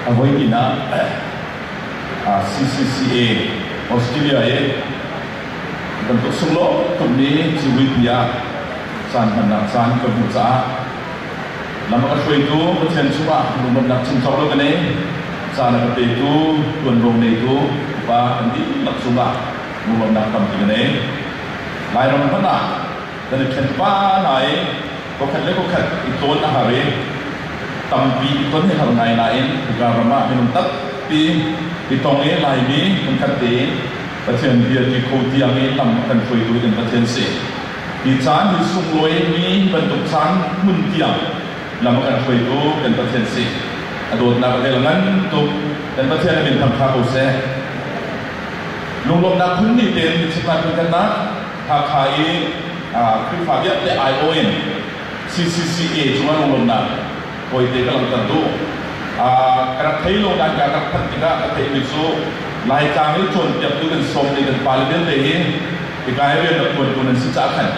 A voihnih ah CCCA Australia i kan tuk sunglaw tukmi civui ah caan hmannak caan kan hmuh caah lam a ka hruaitu Pathian chungah lungdonnak chungkhar lo ka nei. Caan a ka petu ṭuanvo ngeitu upa kan dihlak cungah lungdonnak tampi ka nei. Lairam hmanh ah kan i ṭhen pah hna i khuakhat le khuakhat i tlawn a har i tampi i ton hi har ngai nain hika ram ah minung tampi i tong i laimi phun tein Pathian bia ti kho tiang i lam kan hruaitu in Pathian si. Hi caan hi sunglawi bantuk caan hmun tiang lam kan hruaitu kan Pathian si. A dawtnak vel ngan tuk kan Pathian min thangtha ko seh. Lunglawmhnak phun ni tein chimnak kan Hakha i Khrihfa vialte aiawh in CCCA cung ah lunglawmhnak tawite ka langhter duh. Ka rak thei lo nain kaa rak phanh tikah ka theihmi cu Laitlang i cawnpiaktu kan sawmte kan pale vialte hi hika i rian rak ṭuantu nan si caah khan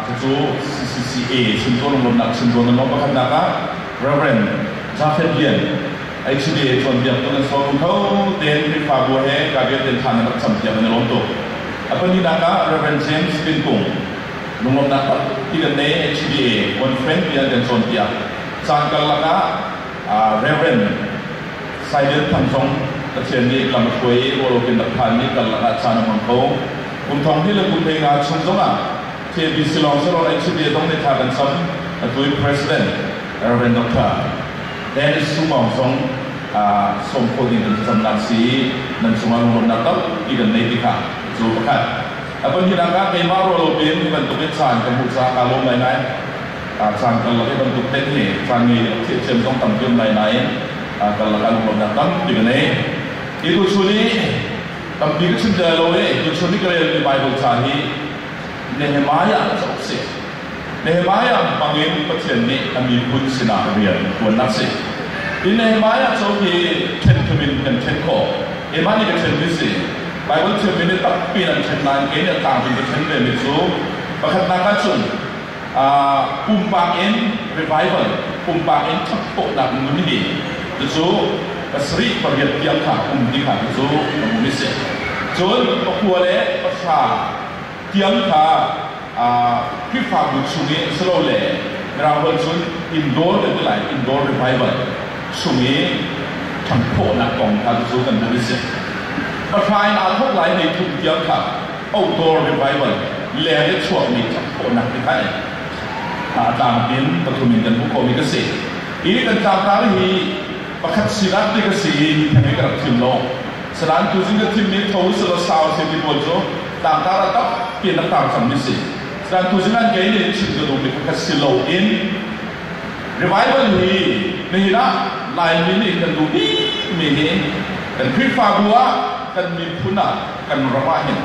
cucu CCCA chim zawn lunglawmhnak chim zawn a nuam. Pakhatnak ah Rev. Jafet Lian, HDA tuanpiak tu nan sawm kho tein Khrihfabu he ka vialte tha nan rak campiak in a lawm tuk. A pahninak ah Rev. James Pin Kung lunglawmhnak pakpi kan nei, HDA One Friend tiah kan cawnpiak. Caan karlak ah Rev. Saidiat Thang zong Pathian nih lam a hruai i ruahlokin rak phan i karlak ah caan a hmang ko. Kum thong hnih le kum hlei nga chung zong ah KBC lawng sehlaw HDA zong nih tha kan cam, atu in President Rev. Dr. Dennis Sungmawng zong sawm kho ding an thlacamnak si i nan cungah lungawnnak tampi kan ngei tikah zaw pakhat. A pahnihnak ah keimah ruah lo tein hi bantukin caan ka hmuh caah kaa lawm ngaingai. Caan karlak i bantuk hlen hi caan ngei le thiamthiam zong tam piak ngai nain karlak ah lungawnnak tampi ka ngei. Hi tuchun i tampi ka chim tel lo i tuchun i ka relmi Baibal ca hi Nehemiah cauk si. Nehemiah bangin Pathian nih a miphun sinah rian a ṭuannak a si. Hi Nehemiah co hi ṭhenthum in kan ṭhen khawh. Keimah nih ka ṭhen mi si. Baibal thiammi nih tampi in an ṭhen nain kei nih a tlangmi ka ṭhen vemi cu pakhatnak ah cun pumpak in revival, pumpak in ṭhatkhawhnak nun hi cucu pasarih pariat tiang kha um ti kha cucu ka hmuh mi si. Cun pakua le pahra tiang kha Khrihfabu chung i silole Mirang holh cun indoor kan ti lai indoor revival chung i ṭhangthawhnak kong kha cu kan hmuh i si. Hlathlai in aa thawk lai meithum tiang kha outdoor revival leng i chuakmi ṭhangthawhnak te kha a tlamtlin pathum in kan hmuh komi ka si. Hi kan tlangtar hi pakhat sinak ti ka si i mi theng in ka rak thim lo. Asinain tuzing a thim mi tho sala sau se ti pawl cu tangkar a tam pian a kang khammi si. Asinain tuzing an kei ne chim ka duh mi pakhat si lo in revival hi nihin ah Laimi nih kan duh bik mi hi kan Khrihfabu ah kan miphun ah kan ram ah hin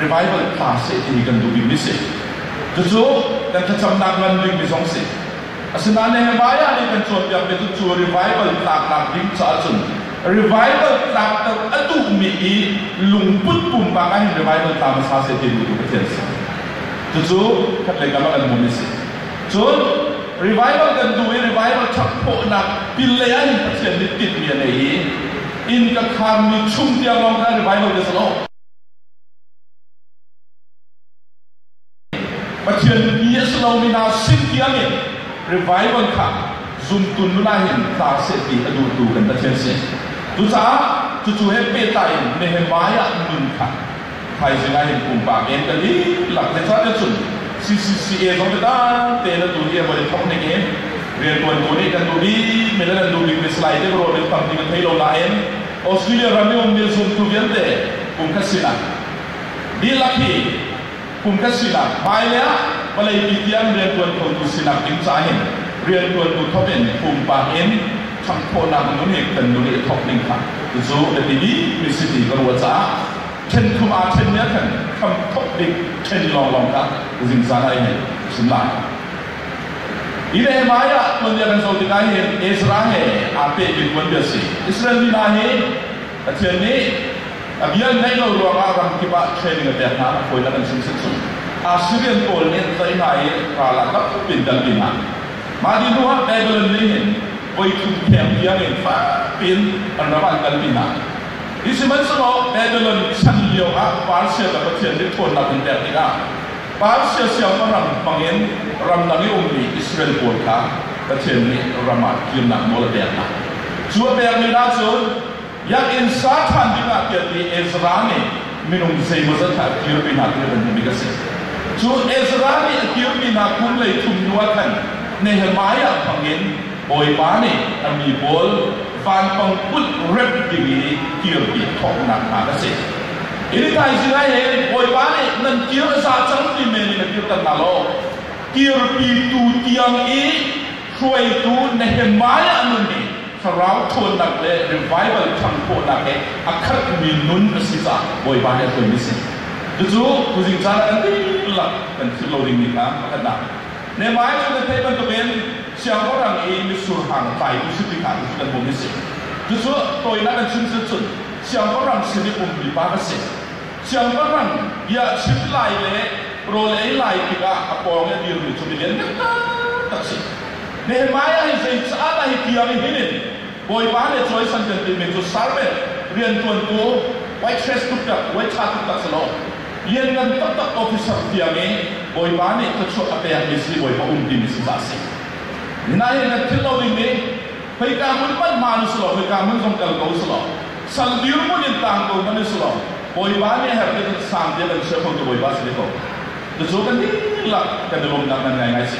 revival tla se ti hi kan duh bik mi si. Cucu kan thlacamnak ngan bik mi zong si. Asinain he vai ah nih kan cawnpiak mi cu cu revival tlaknak ding caah cun revival tlam tam a duhmi i lungput pumpang ah hin revival tlam sa se ti tu Pathian sa cucu khatlei kam kan mun si cun revival kan duh i revival ṭhakpawhnak pinlei ah hin Pathian nih tinhmi a nei i inn ka khaanmi chung tiang lawng kha revival ka si lo Pathian mi a si lomi hna sin tiang in revival kha zumtu nuna in tla seh ti a duhtu kan Pathian si. Cucaah cucu he pehtlai in Nehemiah nun kha thaizing ah hin pumpak in kan dihlak ne ca cun CCCA zong cu dante na tu hi a voi thok ning in riantuan tu nih kan duh bik mi le nan duh bik mi slide te ro rin tam ti kan thei lo nain Australia ram i um mi zumtu vialte kum khat sin ah dihlak hi Kum kan sinak hmailei ah vawleipi tiang riantuan khotu sinak ding ca hin riantuantu thawk in pumpak in ṭhangthawhnak nun i kan nun i thawk ding kha cucu Latini missiti ka ruah caah ṭhen thum aa ṭhenmi ah khan hram thawk ding ṭhen lawnglawng kha zingzan ah i hei hrim lai. Hi Nehemiah ah tuanbia kan zoh tikah hin Ezra he aa pehmi tuanbia a si. Israel mi hna hi Pathian nih a bia an ngaih lo ruangah ramkip ah train le pek hna a fawinak an sung suksuh. Assyrian pawl nih an tlaih hna i ral ah dap tuk in dampi hna. Mah dih hnuah Babylon nih hin voi thum theng tiangin fak tein an ram an kalpi hna. Hi sihmanhsehlaw Babylon chan lioah Persia le Pathian nih ṭhawnnak an pek tikah Persia siangpahrang bangin ramdang i ummi Israel pawl kha Pathian nih ram ah kirnak nawl a pek hna. Cu a pekmi hna cu biakinn sa ṭhan dingah tialmi Ezra nih minung zeimawzat ah a kirpi hna tiah kan hmuhmi kan si. Cu Ezra nih a kirmi hna kum hlei thum hnuah khan Nehemiah bangin Bawipa nih a mi pawl vanpang put rep ding i kirpi thawknak hna ka si. Hi thaizing he Bawipa nih nan kir a za cang ti men in a kir tan hna lo. Kirpitu tiang i hruaitu Nehemiah nun hi thlarau ṭhawnnak le revival thang khawhnak he a khatmi nun a si caah Bawipa nih a tuanmi si. Cucu tuzing caan ah kan dihlak kan philh lo dingmi kha a khat hna. Nehemiah cu na theih bantukin Siangpahrang i mitsur hrang taimi hripi hna tu cu kan bawm hi a si. Cucu tawinak in chim cun siangpahrang sin i umpipa ka si. Siangpahrang bia a chim lai le rawl ei lai tikah a pawng i a dirmi cu mi lianngan taktak a si. Nehemiah hi zei caah dah hi tiang i hin in Bawipa le cawisan kan tinhmi cu serment, rianṭuantu, waitress tuktak, waitha tuktak si lo, lianngan taktak officer tiang i Bawipa nih thluachuah a pekmi siibawipa um timi cu ca a si. Nai in kan philh lo ding nih khoika hmun hmanh hmaan u sulaw khoika hmun zong kal ko sulaw, sal dirhmun in tang ko hmanh u sulaw, Bawipa nih a herh tikhan sang bia kan chia kho tu Bawipa si ve ko. Cucu kan dihlak kan i lawmhnak nan ngaingai si.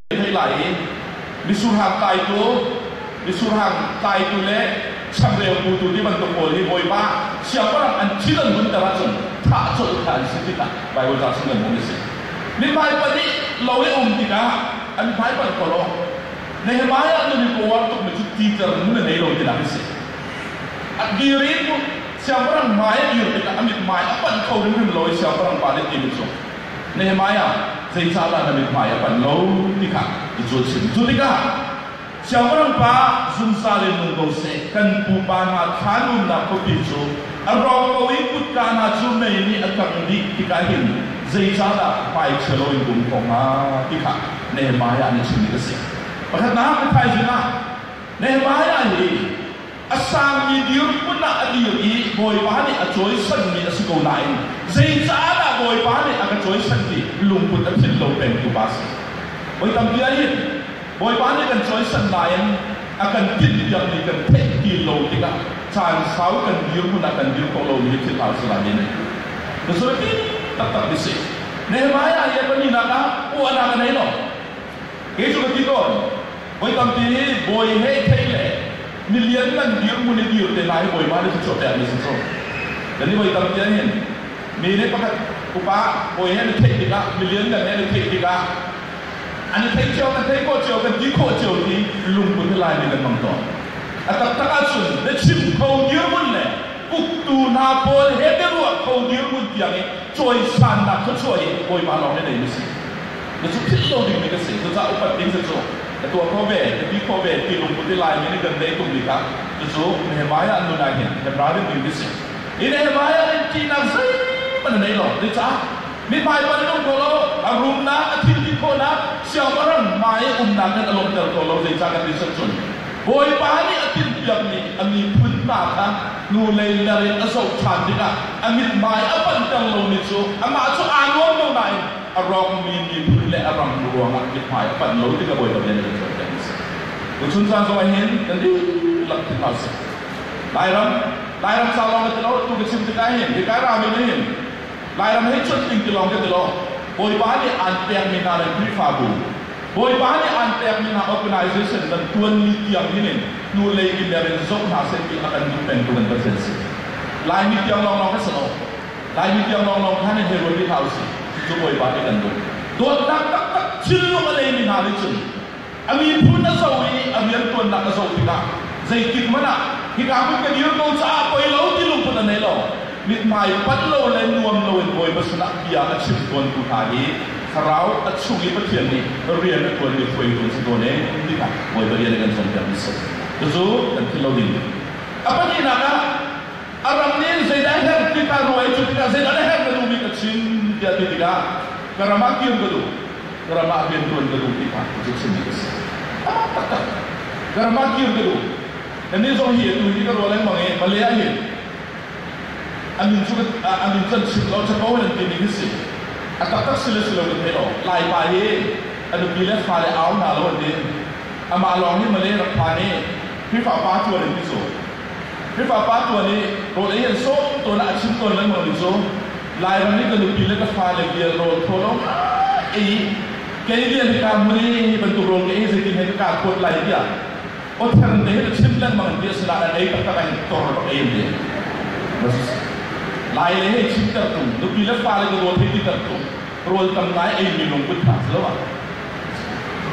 theih lai i misurhang taitu misurhang taitu le changreu putu ti bantuk pawl hi bawipa siangpahrang an thil an hunter ahcun thah colh kha an si tikah Baibal caang sunglawn a si mi hmai pahnih lo i um tikah an hmai panh palawng Nehemiah nun i power tuk mi cu teacher nun a nei lo tinak a si a dir in siangpahrang hmai a dir tikah a mit hmai a panh kho rimrim lo i siangpahrang pa nih ti min sung Nehemiah zei ca dah na mithmai a panh lo ti kha i cawn chim. Cu tikah Siangpahrang pa, zungzal in nung ko seh, kan pupa hna thlan umnak khuapi cu a rawk ko i kutka hna cu mei nih a tang dih tikah hin zeicahdah vaichia lo in um ko hnga ti kha Nehemiah nih chimmi a si. Pakhatnak, thaizing ah Nehemiah hi a sangmi dirhmun ah a dir i Bawipa nih a cawisanmi a si ko nain zeicah dah Bawipa nih a ka cawisan ti lungput a thil lo pengtu pa a si. Voi tampi ah hin Bawipa nih kan cawisan nain a kan tinhpiakmi kan theih ti lo tikah caan sau kan dirhmun ah kan dir khawh lomi hi thil hal si lai in na zulti taktak mi si. Nehemiah hi a pahnih nak ah uahnak a nei lo. Kei cu ka ti tawn. Voi tampi nih bawi he i thei le ni lianngan dirhmun i dir te hna hi bawipa nih thluachuah pekmi a si sung. Nan i voi tampi ahhin mi nih pakhat upa bawi he na theih tikah, mi lianngan he na theih tikah, an i thei cio, an thei khawh cio, kan ti khawh cio ti lungput he Laimi kan hmang tawn. A taktak ahcun biachim kho dirhmun le uktu hna pawl he biaruah kho dirhmun tiang i cawisannak thluachuah hi bawipa lawng nih a ngeimi a si. Na cu philh lo dingmi kan si. Cucaah upat ding cu cu na tuah khawh ve, na ti khawh ve ti lungput i lai mi nih kan tei ṭung bik ah cucu Nehemiah an nun ah hin Hebraian mi an si. Hi Nehemiah nih ṭihnak zeihmanh a nei lo. Zeicah? Mi hmaiban nung ko lo, a rumnak, a thil ti khawhnak, siangpahrang hmai i umnak nan a lawmhter ko lo. Zeicah ka ti sat cun Bawipa nih a timhpiakmi a miphun hna kha hnulei ler in a zoh ṭhan tikah a mithmai a panhter lomi cu amah cu aa nuam lo nain a rawkmi miphun le a ram ruangah mithmai a panh lo ti ka Bawipa bia nih kan cawnpiak mi a si. Tuchun caan zong ahhin na dihlak thi hlah sih. Lairam, Lairam sau lawng ka ti lo, atu ka chim tikah hin, hi kai rami nih hin, Lairam hei chunh ding ti lawng ka ti lo, Bawipa nih aan pekmi hna le Khrihfabu, Bawipa nih aan pekmi hna organisation kan tuan ni tiang hin in hnulei mimer in zoh hna seh ti a kan duh pengtu kan Pathian si. Laimi tiang lawng lawng ka si lo, Lai mi tiang lawnglawng kha nih hei ruat rih hlah usih. Cucu Bawipa nih kan duh. Dawtnak taktak thinlung a ngeimi hna nih cun a miphun a zoh i a rianṭuannak a zoh tikah zeitik hmanh ah hika hmun ka dir ko caah poi lo ti lungput a nei lo. Mithmai panh lo le nuam loin Bawipa sinah bia a chim tawntu hna hi Thlarau a chung i Pathian nih rian a ṭuan mi hruaitu an si tawn e tikah Bawipa rian a kan cawnpiak mi a si. Cucu kan philh lo ding. A pahnihnak ah A ram nih zeidah herh tika ruang ei cu tikah zeidah a herh na duh bik a chim tiah ti tikah ka ram ah kir ka duh ka ram ah rian tuan ka duh ti kha cu chim a si. A taktak ka ram ah kir ka duh Nannih zong hi atu hi ka ruah lengmang i Malay ah hin an nun cu an nun kan chim lo chapo nan timi hi si a taktak si le si lo kan thei lo lai pa hi a nupi le fa le au hna lo an ti amah lawng hi Malay rak phan i Khrihfa pa cu an ti so Khrihfa pa tuan i rawl ei an sawh tawn ah a chim tawn lengmang mi cu Lairam i ka nupi le ka fale vial rawl khawlo ei kei lian hi kaa hmun i bantuk rawl ka ei zeitin he ka kaa kuat lai tiah awther te hin a chim lengmang ti a si nain ei taktak in tor rak ei an ti. Lai le hei chim ter tum nupi le fale ka rawl hei ti ter tum rawl tam nai ei mi lungput tha si lo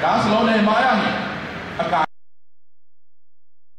ka si lo ne mai ang a ka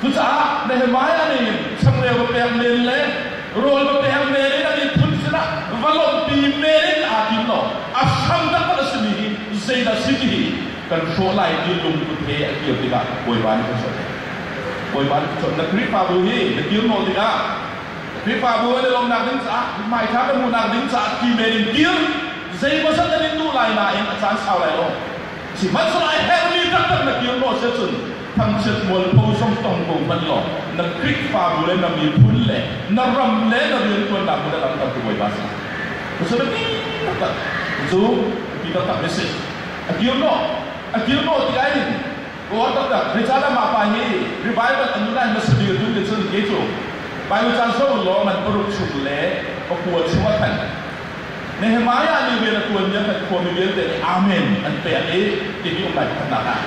Cucaah Nehemiah nih changreu va pek men le rawl va pek men in a miphun sinah va lawmhpi men in aa tim lo. A hrang taktak a simi hi zeidah si ti hi kan hrawh lai ti lungput he a kir tikah Bawipa nih kan chawnh. Bawipa nih kan chawnh. Na Khrihfabu hi na kir nawl tikah Khrihfabu an i lawmnak ding caah hmaiṭha na hmuhnak ding caah ti men in kir. Zeimawzat nan in duh lai nain a caan sau lai lo. Sihmanhsehlaw a herhmi taktak na kir nawl si ahcun thangchiat mualpho zong tong ko hmanh law na Khrihfabu le na miphun le na ram le na riantuannak hmun ah langhtertu Bawipa si. Cucu biapi taktak. Cu biapi taktak a si. A kir naw, a kir naw ti lai in Kawl taktak Rechalam ah pai hi revival an nunai hmasa dir dun te cun ke cu Bible caan sau lawng an paruk chung le pakua chung a thanh. Nehemiah nih rian a ṭuanmi a hngalh khomi vialte nih Amen an pek i tihi um lai khatnak ah.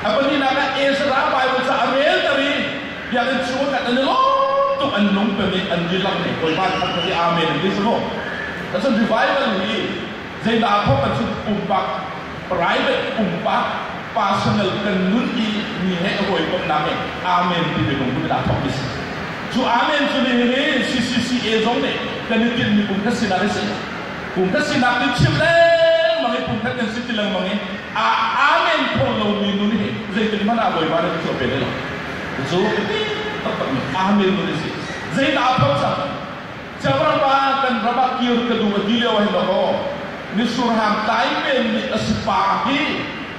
A pahnihnak ah Ezra Baibal cu a relter i biakinn chungah an i lawm tuk an lungton i an dihlak nih Bawipa thangṭhat i Amen an ti sung. Cun revival hi zeidah a phawt kan chimh pumpak private pumpak personal kan nun i mi he hawikomhnak in amen ti biafang cu aa thawkmi si. Cu amen cu nihin CCCA zong nih kan i tinhmi pumkhat sinak a si. Pumkhat sinak hi chim lengmang i pumkhat kan si ti lengmang i a amen kho lomi nun hi zeitin hmanh ah Bawipa nih cuah pe lai lo. Cu a biapi taktakmi amen nun a si. Zeidah a phawt cang? Cavapa kan ram ah kir ka duh a ti lio hin la kaw misurhang tai men nih a si pa hi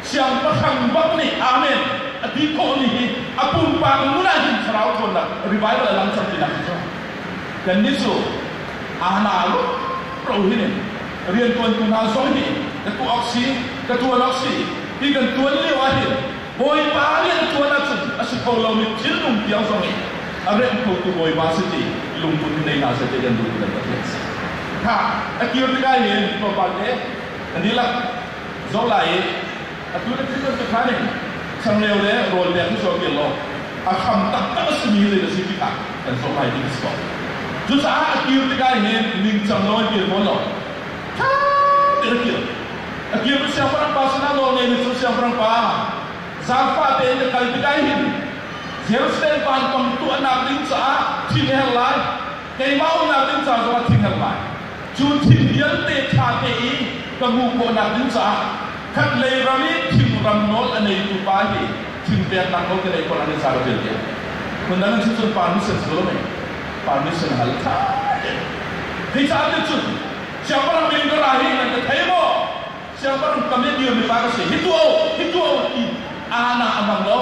siangpahrang bang nih amen a ti khawh ni hi a pumpak ngun ah hin thlarau thawnnak revival a lang cang ti nak cu kan ni su ana lu ro hin in rian tuan tu hna zong hi ka tu ok si ka tuan ok si hi kan tuan lio ah hin Bawipa riantuan ahcun a si kho lomi thilnung tiang zong i a remh khotu Bawipa si ti lungput in nei hna seh ti kan duh i kan Pathian si. Kha a kir tikah hin tlawmpal an dilak zola i atu le thil bantukan in changreu le rawl pek hi zuar kir law a kham taktak a simi zei na si ti kha kan sawmai ding a si ko. Cucaah a kir tikah hin ningcang lawi kir fawn law ṭha tein a kir. a kir cu siangpahrangpa sinah nawl ngei mi cu siangpahrangpa zaangfah tein ka kal tikah hin Jerusalem pa kam tuahnak ding caah thil ka her lai keimah umnak ding ca zongah thil her lai cu thil vialte ṭha te i ka hmuh khawhnak ding caah khat lei ram i thingram nawl a neitu pa hi thil peknak nawl ka nei ko an i car vialte phun dang cu cun pa mission cu a mei pa mission hal ṭha te Kei caah cun siangpahrang min ka ra hi an ka thei maw siangpahrang ka min dir mifa ka si hi tuah hi tuah ti ana amang lo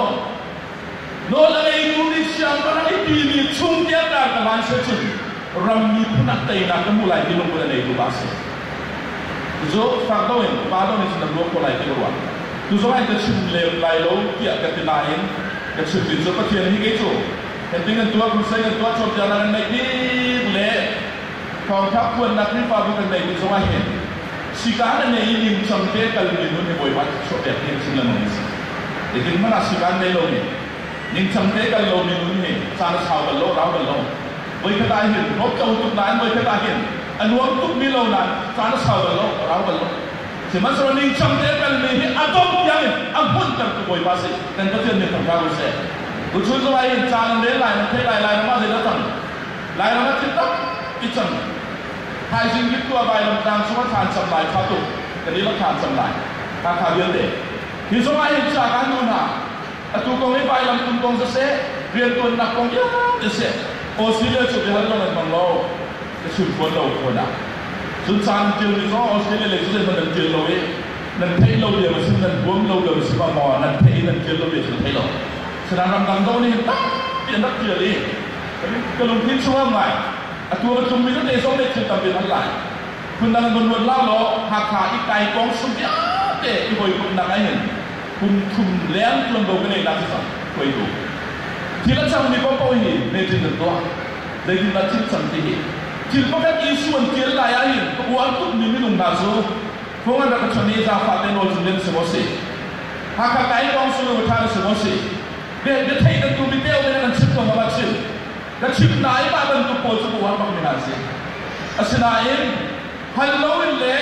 nawl a ngeitu nih siangpahrang i timi chung tiang tar ka van se cun ram miphun ah teinak ka hmuh lai ti lungput a ngeitu ba si zo fak dong in fa dong in sinam luang ko lai ti ka ruah tu zongah ka chim le lai lo tiah ka ti nain ka chim tin cu pathian hi kei cu heting an tuah kun sai an tuah chom tiang nan meik dik le Thawngtha phuannak Khrihfabu kan ngeih mi zong ah hin sikaan a nei i ningcang te kalmi nun hi Bawipa thluachuah pek hi a chim lengmang a si. Hitin hmanh ah sikaan ngei lomi, ningcang te kal lomi nun hi caan a sau bal lo, rau bal lo. Voikhat ah hin bawmh ṭo tuk nain voikhat ah hin a nuam tukmi lo nain caan a sau bal lo, rau bal lo. Sihmanhsehlaw ningcang te kalmi hi a dongh tiang in a hmunhtertu Bawipa si kan Pathian min ṭhang hna u sih. Tuchun zong ah hin caan an rel lai, an theih lai lai, nangmah zeidah tang? Lairam a thin tak i cang. Thaizing Rittua vailamtang chung a than cang lai kha tu kan i la than cang lai. Hakha vialte. Hi zongah hin ca kan nu hna, atu kong hi vailam kun kong za seh, riantuannak kong vialte seh, Australia cu biahal lo nan mang lo, ka chun phuan lo khawn ah. Zun caan tial mi zong Australia lei cu zeihmanh nan tial lo i, nan theih lo diam a si, nan huam lo diam a si, ma maw nan theih i nan tial lo ve cu nan theih lo. Saram ramdang do nih takpi an rak tial i ka lungthin chungah ngai a tuar a tlungmi tete zong nih thil tampi an hal lai phundang vunruat la law Hakha i kai kong sung vialte i hawikomhnak ai hin kum thum leng tuanvo ka nei nak cu cang hruaitu thil a cangmi kong paoh hi metin an tuah zeitindah thil cang ti hi thil pakhat Isu an tial lai ahhin ka u an tukmi minung hna cu phung rak chami zaangfah te nawl cu nan si maw si? Hakha Kaitawng Sunu ṭha na si maw si? Retheih nan duhmi te um in nan chim ko hau ah chim. Ka chim na i mah bantuk pawl cu ka uar bak men ah a si. Asinain, hal loin le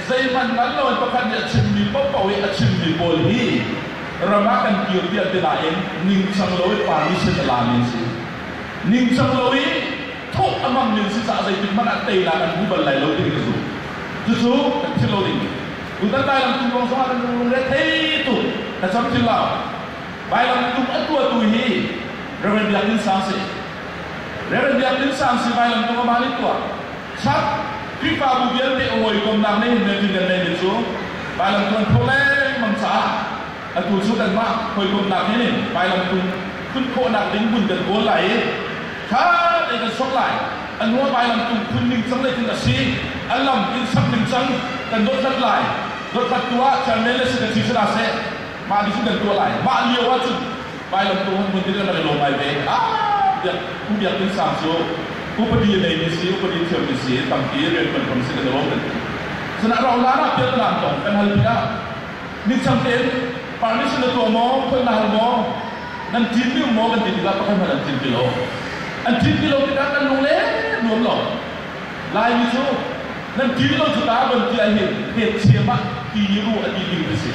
zeihmanh ngal loin pakhat nih a chimmi paohpaoh i a chimmi pawl hi ram ah kan kir tiah ti nain ningcang loin parmission a lami an si. Ningcang lo i thawh a hmangmi si caah zeitikhmanh ah teinak an hmu bal lai lo timi ka zumh. Cucu kan philh lo ding mi. Tutan Lai lamtum kong zongah kan lung lungre thei tuk. Ka camcin lo. Vai lamtum a tuahtu hi Reverend Biak Din Sang si. Reverend Biak Din Sang si vai lamtum a man in tuah. Trump Khrihfabu vialte a hawikomnak nih hin Melvin kan Melvin cu vai lamtum an phoh lengmang caah atu cu kan mah hawikomnak nih nih vai lamtum phun khawhnak ding hmun kan kawl lai i Kha lei kan sok lai. A nuam ai lam tung phun ning cang le tin a si. A lam in sak ning cang kan dothlat lai. Dothlat tu ah chairman le secretary si dah seh, mah nih cun kan tuah lai. Mah lio ah cun vai lam tung hmun tin kan lawm ai ve. Ah, biak u biak ding sam cu upadi lei mi si, upadi thiam mi si, tampi rian kan kam si kan lawm kan ti. Sana rauh laan ah piatlaan kong kan hal pin ah Midang tein permission na tuah maw? Holh na hal maw? Nan ṭin deuh maw kan ti tikah pakhat hmanh an ṭin ti lo. An ṭin ti lo tikah kan lunglen nuam lo. Laimi cu nan ṭin lo cu ta ban ti ahhin hnetchiam ah timi ru a dih ding a si.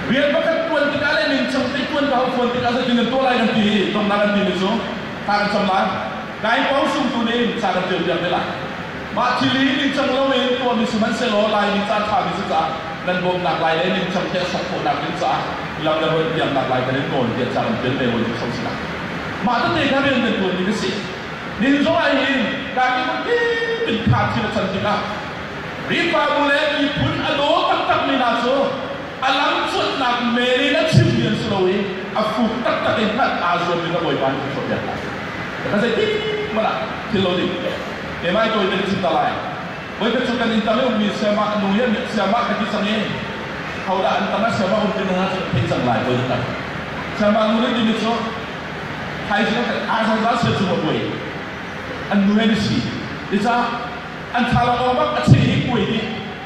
Rian pakhat ṭuan tikah le ningcang teih ṭuan ka hau ṭuan tikah zeitin nan tuah lai kan ti i tonnak an timi cu kaan cam lai. Lai pawl sungtu nih caan an ṭialpiak te lai. Mah thil hi ningcang loin tuahmi sihmanhsehlaw Laimi caan ṭhami cu caah nan bawmnak lai le ningcang te a sak khawhnak ding caah lo le holh tiangnak lai kan in nawl tiah caan an ṭial ve hawi cu hram si lai. Mah tete kha rian kan ṭuanmi ka si. Nihin zong ahhin Kaki tein kha thil a can tikah Khrihfabu le miphun a daw taktakmi hna cu A lamchuanhnak men in a chimmi an si lo i a fuk taktak in hngalh aa zuam ding a bawipa nih a cawnpiak hna. Ka zeitik hmanh ah thil lo ding keimah tawi nan chim ta lai. Voikhat cu kan inn tam i ummi siamah nu hi a mit siamah ka ti cang i hodah an tam a siamah um ti hna cu ka thei cang lai voi tam. Siamah nu nih timi cu thaizing a kan ah zungzal sia cu a buai. An nu he ni si. Nicah an thala awng bak a cheh i kuai nih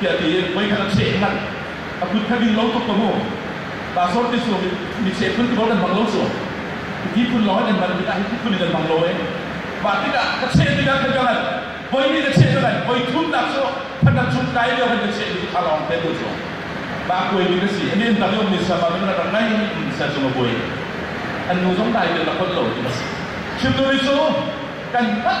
tiah tiin voi khat a cheh hna. A kut kha ding lo tuk ka mu. Pa sor te su mi cheh phun ko dan bang lo su. Ki phun lo an man mi ta hi phun dan bang lo e. Ba tikah ka cheh tikah ka jalan. Voi ni ka cheh jalan. Voi thun tak su phandak chung kai dio kan ka cheh ni a long te tu su. Ba kuai mi ka si. Ani an dang yom ni sa ba min ra ngai in sa chung a buai. An nu zong dai te la kot lo tu ka si. Children so kan tak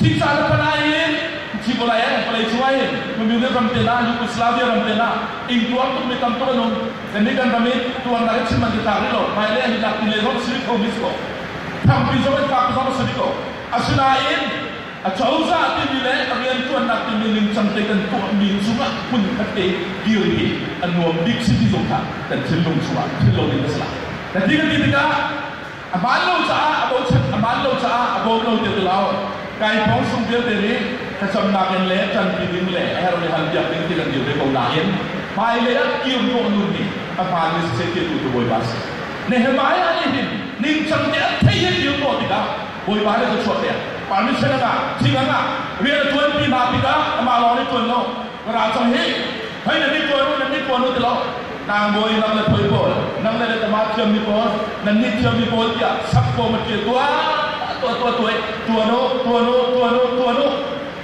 Hi caan a panh ai in hi vawlei ah vawleicung ah hin Communist ram te lah Yugoslavia ram te lah ingtuar tuk mi tam tuk an um kan nih kan ram i tuarnak hi chim an i tlak rih lo hmai le an i tlak ti le zong si rih kho mi si ko thangpi zong in fak zong si rih ko asinain acozah timi le riantuannak timi ningcang te kan tuah mi cungah hmun khatte dir hi a nuam bik si ti zong kha kan thinlung chungah thil lo ding a si la ka ti ka ti tikah A hmaan lo caah a bochan, a hmaan lo caah a bawm lo ti ti lo. Kai phawngsung vialte nih thlacamnak in le ṭanpi ding le a her le hal piak ding ti kan dir ve ko nain hmailei ah kirhnawh nun hi a hmaanmi siseh tirhtu cu Bawipa a si. Nehemiah nih hin ningcangte an theih he kirhnawh tikah Bawipa nih cu chuah pek. Permission a ngah, thing a ngah, rian a ṭuanpi hna tikah amah lawng nih ṭuan lo, Ka ra cang hi. Hei nan ni tuan u, nan ni tuan u ti lo. Tlangbawi nang le poi pawl, nang le le tama thiam mi pawl, nan ni thiam mi pawl tiah sak fawm a ṭil tuah. Tuah tuah tuah. Tuan u, tuan u, tuan u, tuan u.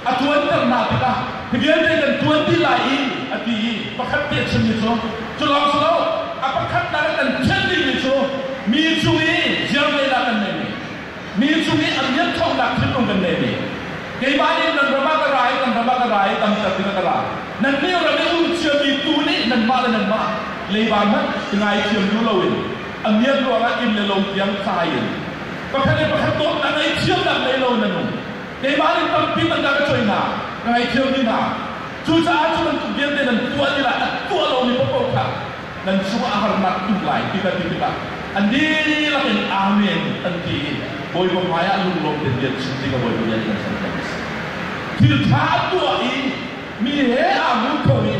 A tuan ter hna tikah hi vialte nan tuan ti lai i a ti i pakhat te a chimmi cu cu lawng si lo a pakhat nak kan thianh dingmi cu mi cung i ziar lehnak kan ngei. Mi cung i a miakṭhawknak thinlung kan ngei mi keimah nih nan ram ah ka ra i nan ram ah ka ra i damter dingah ka ra. Nannih ram i um ciami tuu nih nanmah le nanmah leiba hmanh i ngaithiam duh loin a miak ruangah inn le lo tiang tlai in pakhat le pakhat dawtnak ngei thiamnak ngei lo in an um. Keimah nih tampi tangka ka cuai hna, ka ngaithiam dih hna. Cucaah cu bantuk vialte nan tuah dingah a tuah lomi paohpaoh kha nan chungah a harnak phun lai ti kan ti tikah a dihlak in Amen an ti i Bawipa hmaiah lunglawm tein bia chim tikah Bawipa bia nih kan serpiak a si. Thil ṭha a tuah i mi he aa hmu kho i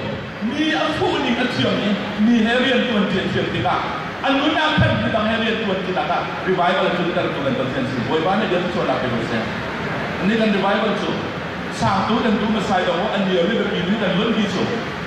mi a fuh ning a thiam i mi he rianṭuanṭi a thiam tikah a nun ah khan mi dang he rianṭuanṭinak ah revival tluntertu kan Pathian a si. Bawipa nih bia cu sualnak pe ko seh. Ni kan revival cu sangtu kan duh Messiah dong an nirih le biapi nih kan luanti cu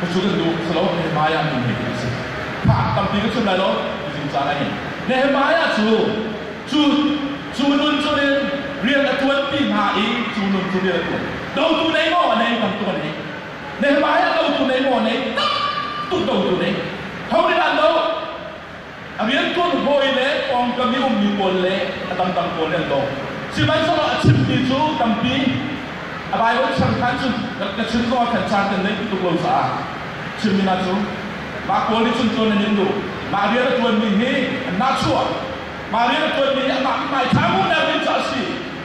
Cucu cu salo Nehemiah tu bik a si. Thla an tampi ka chun lai lo ti zungzal a ngei. Nehemiah cu cu cu nun chungin rian a ṭuanpi hna i cu nun cu rian a ṭuan. Dotu nei maw nei bantukin ei. Nehemiah dotu nei maw nei tak tuk dotu nei. Ho nih dah an doh? A riantuan hawi le pawngkam i ummi pawl le a dangdang pawl nih an dawh. Sihmanhsehlaw a chimmi cu tampi, a Baibal changkan cu ka chim zongah khan caan kan ngeih tuk lo caah chimmi hna cu, Mah pawl nih cun tluan an in duh, mah rian a ṭuanmi hi an nahchuah, mah rian a ṭuanmi hi amah i ngaithlamu na rian cu a si.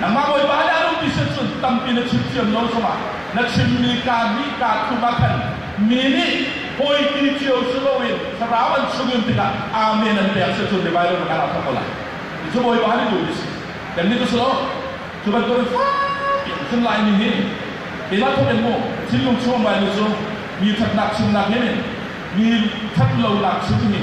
Nangmah Bawipa nih a lungpi sin cun tampi na chim thiam lo chungah na chimmi kaa nih kaa thum ah khan mi nih hawi ti cio si loin thlarau an chungin tikah Amen an pek si cun revival na kan ah thawk ko lai. Ti cu Bawipa nih duh a si. Kannih cu si lo. Cu bantukin fakpi an tlung lai ni hi keimah thawk in mu. Thinlung chung bainu cu mi ṭhatnak chimnak nih mi ṭhat lonak chim hi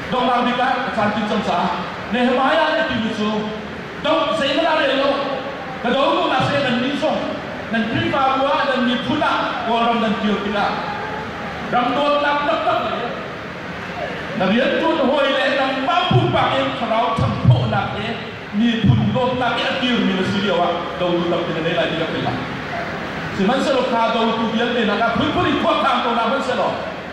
Dongdang bik ah ka tlamtlin cang caah Nehemiah ka tibu cu do zeihmanh ah rel lo ka do ko na seh nan nih zong nan Khrihfabu ah nan miphun ah Kawlram nan kir tikah ram dawtnak taktak le na rianṭuan hawi le nangmah pumpak in thlarau ṭhangthawhnak le miphun dawtnak i a kirmi na si lio ah dotu tampi na ngei lai ti ka philh lai. Sihmanhsehlaw kha dotu vialte nakah phunphun in khuakhang ko hna hmanhsehlaw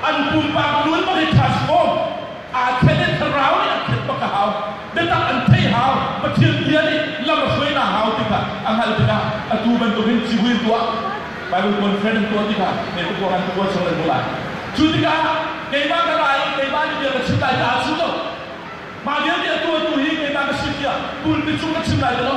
an pumpak luan bak i ṭhash awm aa khen i thlarau nih an khenh bak a hau. Biatak an theih hau, Pathian bia nih lam a hruainak hau ti kha a hngalh tikah atu bantukin civui an tuah, Baibal conference an tuah tikah Nebuchadnezzar an tuah sawh an hmuh lai. Cu tikah keimah ka ra i keimah nih bia ka chim lai caah a si lo. Mah vialte atu atu hi keimah ka si tiah pulpit chung ka chim lai ti lo.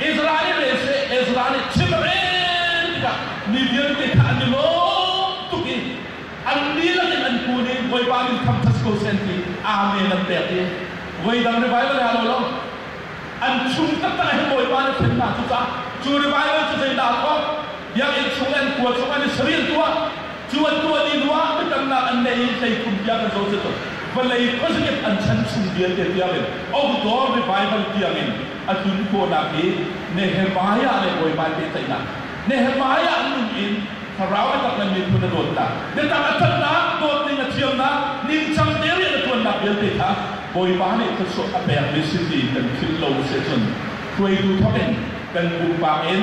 Israel le cu le Ezra nih chimrel tikah mi vialte kha an i lawm tuk i an lila in an kun i Bawipa min khamṭhat ko seh an ti. Amen an pek i voidang revival re ah lo lo an chung taktak ahhin Bawipa nih a ṭhen hna. Cucaah cu revival cu zeidah a tuah? Biakinn chung le an kua chung an i sariltu ah Cu an tuah dih hnuah biakamnak an neih i hleikhum tiang an zohcia tuk. Vawlei khuazakip an chan chung vialte tiangin outdoor revival tiangin a tlun khawhnak i Nehemiah le bawipa pehtlaihnak Nehemiah an nung in Thlarau biatak le miphun a dawtnak biatak a ṭhatnak dawtning a thiamnak ningcang te rian a ṭuannak vialte kha Bawipa nih thluachuah a pek mi si tiin kan philh lo sicun hruaitu thawkin kan pumpak in